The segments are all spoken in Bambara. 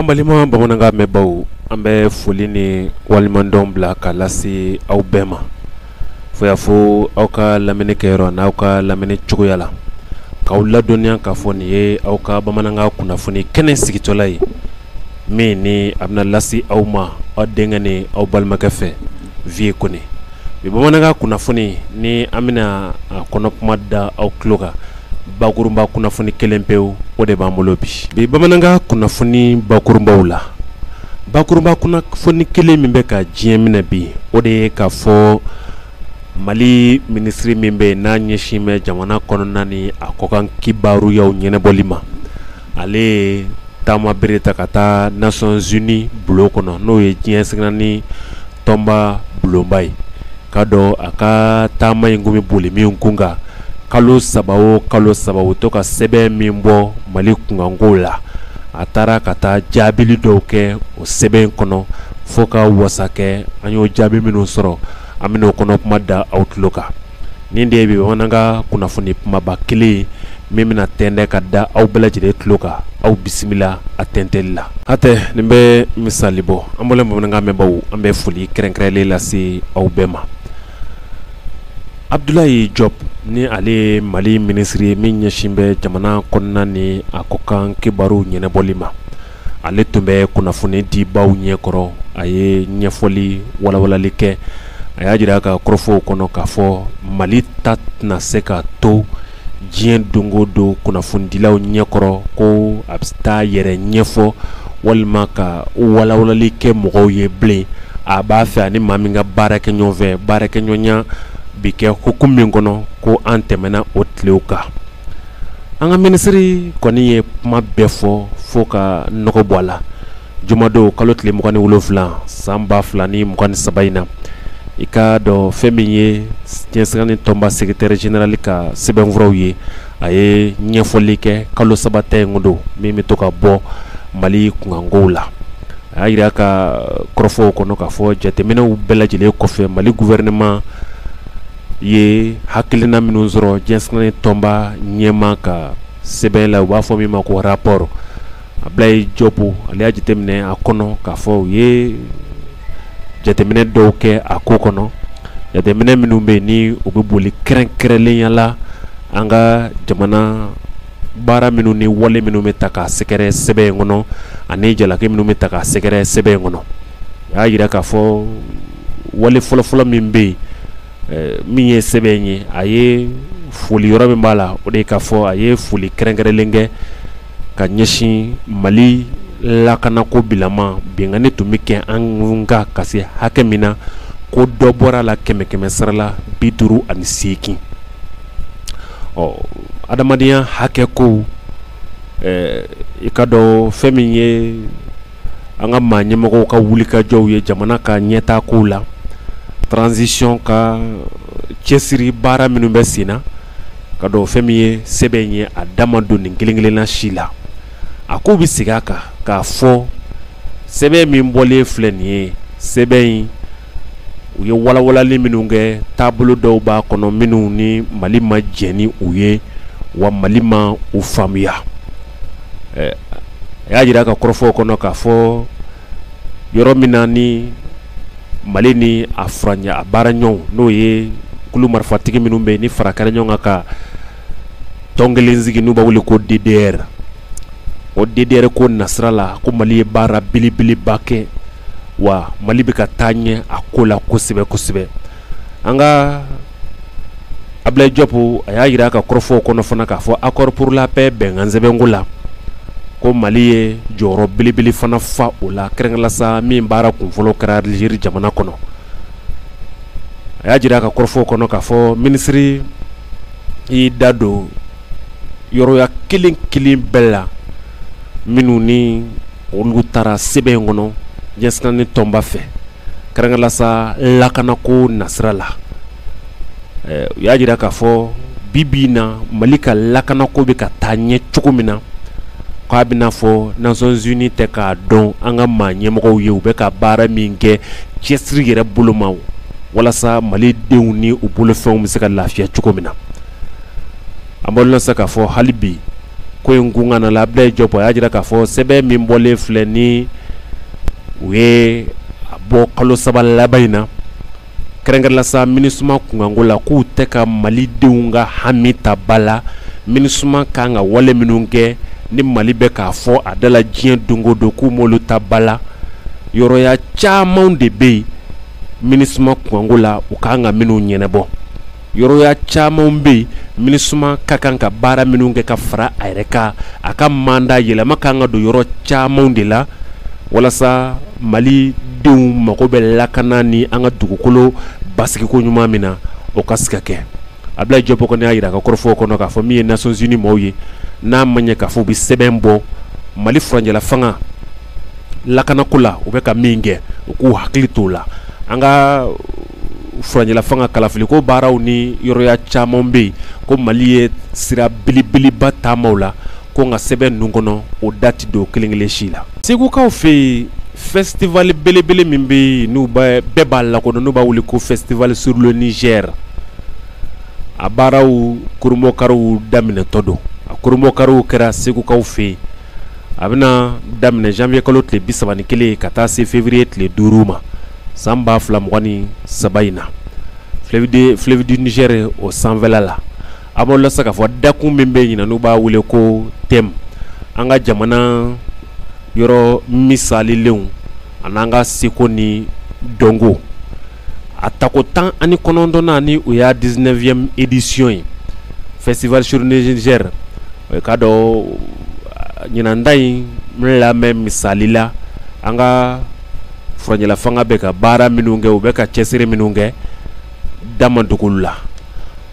An balima bamanankan mɛnbaw an bɛ foli ni waleɲumandɔn bila ka lase aw bɛɛ ma fo y'a fɔ aw ka lamini kɛyɔrɔ n'aw ka lamini cogoya la k'aw ladɔnniya k'a fɔ nin ye aw ka bamanankan kunnafoni kɛnɛ sigitɔla ye min ni a bɛna lase aw ma aw denkɛ ni aw balimakɛ fɛ Vieux kɔni bi bamanankan kunnafoni ni an bɛna a kɔnɔ kuma da aw tulo kan bakurunba kunnafoni kelen pewu o de b'an bolo bi bi bamanankan kunnafoni bakurunbaw la bakurunba kunnafoni kelen min bɛ ka diɲɛ minɛ bi o de ye k'a fɔ mali minisiri min bɛ n'a ɲɛsin bɛ jamana kɔnɔna ni a kɔkan kibaruyaw ɲɛnɛbɔli ma ale ye taama bere ta ka taa Nations Unies bulon kɔnɔ n'o ye diɲɛ seleke naani tɔnba bulonba ye k'a dɔn a ka taama in kun bɛ boli min kunkan kalo saba o kalo saba u to ka sɛbɛn min bɔ mali kunkanko la a taara ka taa jaabili dɔw kɛ o sɛbɛn in kɔnɔ fo ka wasa kɛ an y'o jaabi minnu sɔrɔ an bɛna o kɔnɔ kuma da aw tulo kan Nin de bɛ bamanankan kunnafoni kumaba kelen min bɛna tɛntɛn ka da aw bɛɛ lajɛlen tulo kan aw bisimila a tɛntɛli la hatɛ nin bɛ misali bɔ an balima bamanankan mɛnbaw an bɛ foli kɛrɛnkɛrɛnlen lase aw bɛɛ ma Abdoulaye Diop ni ale ye mali minisiri ye min ɲɛsin bɛ jamana kɔnɔna ni a kɔkan kibaru ɲɛnɛbɔli ma ale tun bɛ kunnafonidibaw ɲɛkɔrɔ a ye ɲɛfɔli walawalali kɛ a y'a jira a ka kɔrɔfɔw kɔnɔ k'a fɔ mali ta tɛna se ka to diɲɛ don go don kunnafonidilaw ɲɛkɔrɔ ko a bɛ taa yɛrɛ ɲɛfɔ walima ka walawalali kɛ mɔgɔw ye bilen a b'a fɛ ani maa min ka baara kɛ ɲɔgɔnfɛ baarakɛɲɔgɔnya bi kɛ hukumu min kɔnɔ ko an tɛmɛna o tilew kan an ka minisiri kɔni ye kuma bɛɛ fɔ fo ka nɔgɔ bɔ a la jumadon kalo tile mugan ni wolonfila san ba fila ni mugan ni saba in na i k'a dɔn fɛn min ye diɲɛ seleke naani tɔnba secrétaire général ka sɛbɛnfuraw ye a ye ɲɛfɔli kɛ kalo saba ta in don min bɛ to ka bɔ mali kunkankow la a y'a jira ka kɔrɔfɔw kɔnɔ k'a fɔ jateminɛw bɛɛ lajɛlen kɔfɛ mali gouvernement u ye hakilina minnu sɔrɔ diɲɛ seleke naani tɔnba ɲɛmaa ka sɛbɛn la u b'a fɔ min ma ko rapport Abdoulaye Diop ale y'a jateminɛ a kɔnɔ k'a fɔ u ye jateminɛ dɔw kɛ a ko kɔnɔ jateminɛ minnu bɛ yen ni u bɛ boli kɛrɛnkɛrɛnlenya la an ka jamana baara minnu ni wale minnu bɛ ta ka sɛgɛrɛ sɛbɛn in kɔnɔ ani jalaki minnu bɛ ta ka sɛgɛrɛ sɛbɛn in kɔnɔ u y'a jira k'a fɔ wale fɔlɔfɔlɔ min bɛ yen min ye sɛbɛn ye a ye foli yɔrɔ min b'a la o de ye k'a fɔ a ye foli kɛrɛnkɛrɛnnen kɛ ka ɲɛsin mali lakanako bilama binkanni tun bɛ kɛ an kan ka se hakɛ min na ko dɔ bɔra a la kɛmɛ kɛmɛ sarala bi duuru ani seegin ɔ adamadenya hakɛ ko i k'a dɔn fɛn min ye an ka maa ɲɛmɔgɔw ka wulikajɔw ye jamana ka ɲɛtaa kow la transition ka cɛsiri baara minnu bɛ sen na k'a dɔn fɛn min ye sɛbɛn in ye a da ma don nin kelen-kelenna si la a ko bɛ segin a kan k'a fɔ sɛbɛn min bɔlen filɛ nin ye sɛbɛn in u ye walawalali minnu kɛ taabolo dɔw b'a kɔnɔ minnu ni mali ma jɛn ni u ye wa mali ma u faamuya a y'a jira a ka kɔrɔfɔw kɔnɔ k'a fɔ yɔrɔ min na ni mali ni a a baara ɲɔgɔn n'o ye kulu marifatigi minnu bɛ yen ni fara kɛra ɲɔgɔn kan ka tɔn kelen sigi n'u b'a wele ko DDR o DDR ko nasira la ko mali ye baara belebeleba kɛ wa mali bɛ ka taa ɲɛ a ko la kosɛbɛ kosɛbɛ an ka abudulayi jɔp a y'a jira a ka kɔrɔfɔw kɔnɔ fana k'a fɔ accord pour la paix bɛnkansɛbɛnko la ko mali ye jɔyɔrɔ belebele fana fa o la kɛrɛnkɛrɛnla sa min baara kunfɔlɔ kɛra aliziri jamana kɔnɔ a y'a jira a ka kɔrɔfɔw kɔnɔ k'a fɔ minisiri y'i da don yɔrɔya kelen kelen bɛɛ la minnu ni olu taara sɛbɛn in kɔnɔ diɲɛ seleke naani tɔnba fɛ kɛrɛnkɛrɛnla sa lakanako nasira la u y'a jira k'a fɔ bi bi in na mali ka lakanako bɛ ka taa ɲɛ cogo min na k'a bɛna fɔ Nations Unies tɛ k'a dɔn an ka maa ɲɛmɔgɔw ye u bɛ ka baara min kɛ cɛsiri yɛrɛ bolo ma walasa mali denw ni u bolofɛnw bɛ se ka lafiya cogo min na an b'a lɔn sa k'a fɔ hali bi ko in kunkan abudulayi jɔp a y'a jira k'a fɔ sɛbɛn min bɔlen filɛ ni u ye a bɔ kalo saba laban in na kɛrɛnkɛrɛnla sa MINUSMA kunkanko la k'u tɛ ka malidenw ka hami ta ba la MINUSMA ka kan ka wale minnu kɛ ni mali bɛ k'a fɔ a da la diɲɛ don o don k'u m'olu ta ba la yɔrɔya caman de bɛ yen MINUSMA kunkanko la u ka kan ka minnu ɲɛnabɔ yɔrɔya camanw bɛ yen minusma ka kan ka baara minnu kɛ ka fara a yɛrɛ kan a ka manda yɛlɛma ka kan ka don yɔrɔ camanw de la walasa mali denw mago bɛ lakana ni an ka dugukolo basigiko ɲuman min na o ka se ka kɛ abudulayi jɔpu kɔni y'a jira a ka kɔrɔfɔw kɔnɔ k'a fɔ min ye nations unies maaw ye n'a ma ɲɛ k'a fɔ u bɛ sɛbɛn bɔ mali furanjɛla fanga lakanako la u bɛ ka min kɛ u k'u hakili t'o la an ka furanjɛla fanga kalafili ko baaraw ni yɔrɔya caman bɛ yen ko mali ye sira belebeleba taama o la ko nka sɛbɛn ninnu kɔnɔ o da ti don kelenkelen si la segukaw fɛ yen fɛsitiwale belebele min bɛ yen n'u bɛɛ b'a lakodɔn n'u b'a wele ko festival sur le niger a baaraw kurunbonkariw daminɛtɔ don a kurunbonkariw kɛra segukaw fɛ yen a bɛna daminɛ zanwiye kalo tile bisaba ni kelen ka taa se fewuriye tile duuru ma san ba fila mugan ni saba in na fleuve du niger o sanfɛ la a b'o lase k'a fɔ dakun min bɛ yen n'u b'a wele ko thème an ka jamana yɔrɔ misalilenw an'an ka seko ni dɔnko a tako tan ani kɔnɔntɔn ni o y'a dix-neuvième édition ye festival sur le niger ka dɔn ɲinan ta in lamɛn misali la an ka fanga bɛ ka baara minnu kɛ u bɛ ka cɛsiri minnu kɛ da ma don o ko la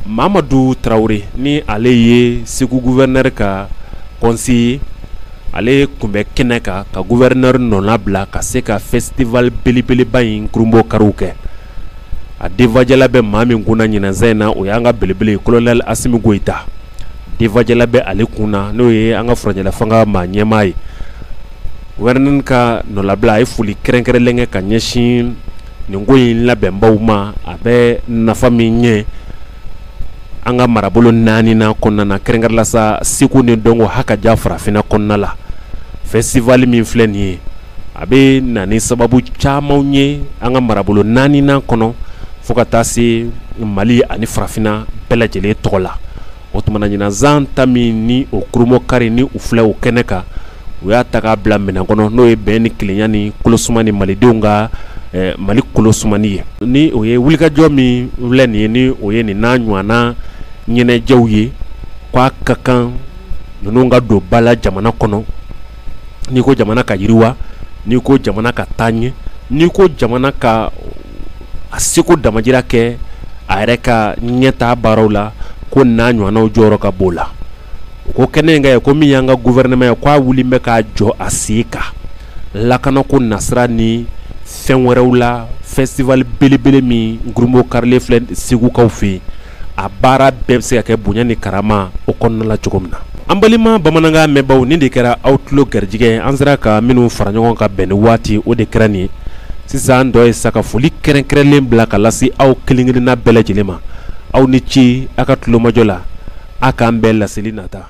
mamadu tarawele ni ale ye segu gouverneur ka conseiller ale tun bɛ kɛnɛ kan ka gouverneur nɔna bila ka se ka festival belebeleba in kurunbonkariw kɛ a denfajala bɛ maa min kunna ɲinan san in na o y'an ka belebele kolonɛ asimi goyita denfajala bɛ ale kun na n'o ye an ka furanjɛla fanga maa ɲɛmaa ye gouverneur ka nɔlabila a ye foli kɛrɛnkɛrɛnlen kɛ ka ɲɛsin nin ko in labɛnbaw ma a bɛ nafa min ɲɛ an ka marabolo naani na kɔnɔna na kɛrɛnkɛrɛn la sa seko ni dɔnko ha ka ja farafinna kɔnɔna la festival min filɛ nin ye a bɛ na ni sababu camanw ye an ka marabolo naani kɔnɔ fo ka taa se mali ani farafinna bɛɛ lajɛlen tɔgɔ la o tuma na ɲinan san ta min ni o kurunbonkari ni u filɛ o kɛnɛ kan u y'a ta k'a bila min kɔnɔ n'o ye bɛn ni kelenya ni kolosuman ni malidenw ka mali kolosuman ye ni o ye wulikajɔ min filɛ nin ye ni o ye nin n'a ɲɔgɔnna ɲɛnajɛw ye k'a ka kan ninnu ka don ba la jamana kɔnɔ n'i ko jamana ka yiriwa n'i ko jamana ka taa ɲɛ n'i ko jamana ka a seko damajira kɛ a yɛrɛ ka ɲɛtaa baaraw la ko n'a ɲɔgɔnnaw jɔyɔrɔ ka bon o la ko kɛnɛ in k'a ye ko min y'an ka gufɛrɛnɛma ye k'a wulilen bɛ k'a jɔ a sen kan lakanako nasira ni fɛn wɛrɛw la festival belebele min kurunbonkarilen filɛ segukaw fɛ yen a baara bɛɛ bɛ se ka kɛ bonya ni karama o kɔnɔna la cogo min na an balima bamanankan mɛnbaw nin de kɛra aw tulo garijɛgɛ an sera ka minnu fara ɲɔgɔn kan bɛn ni waati o de kɛra nin ye sisan tɔ ye sa ka foli kɛrɛnkɛrɛnlen bila ka lase aw kelen-kelenna bɛɛ lajɛlen ma aw ni ce a ka tulomajɔ la a k'an bɛn laseli nata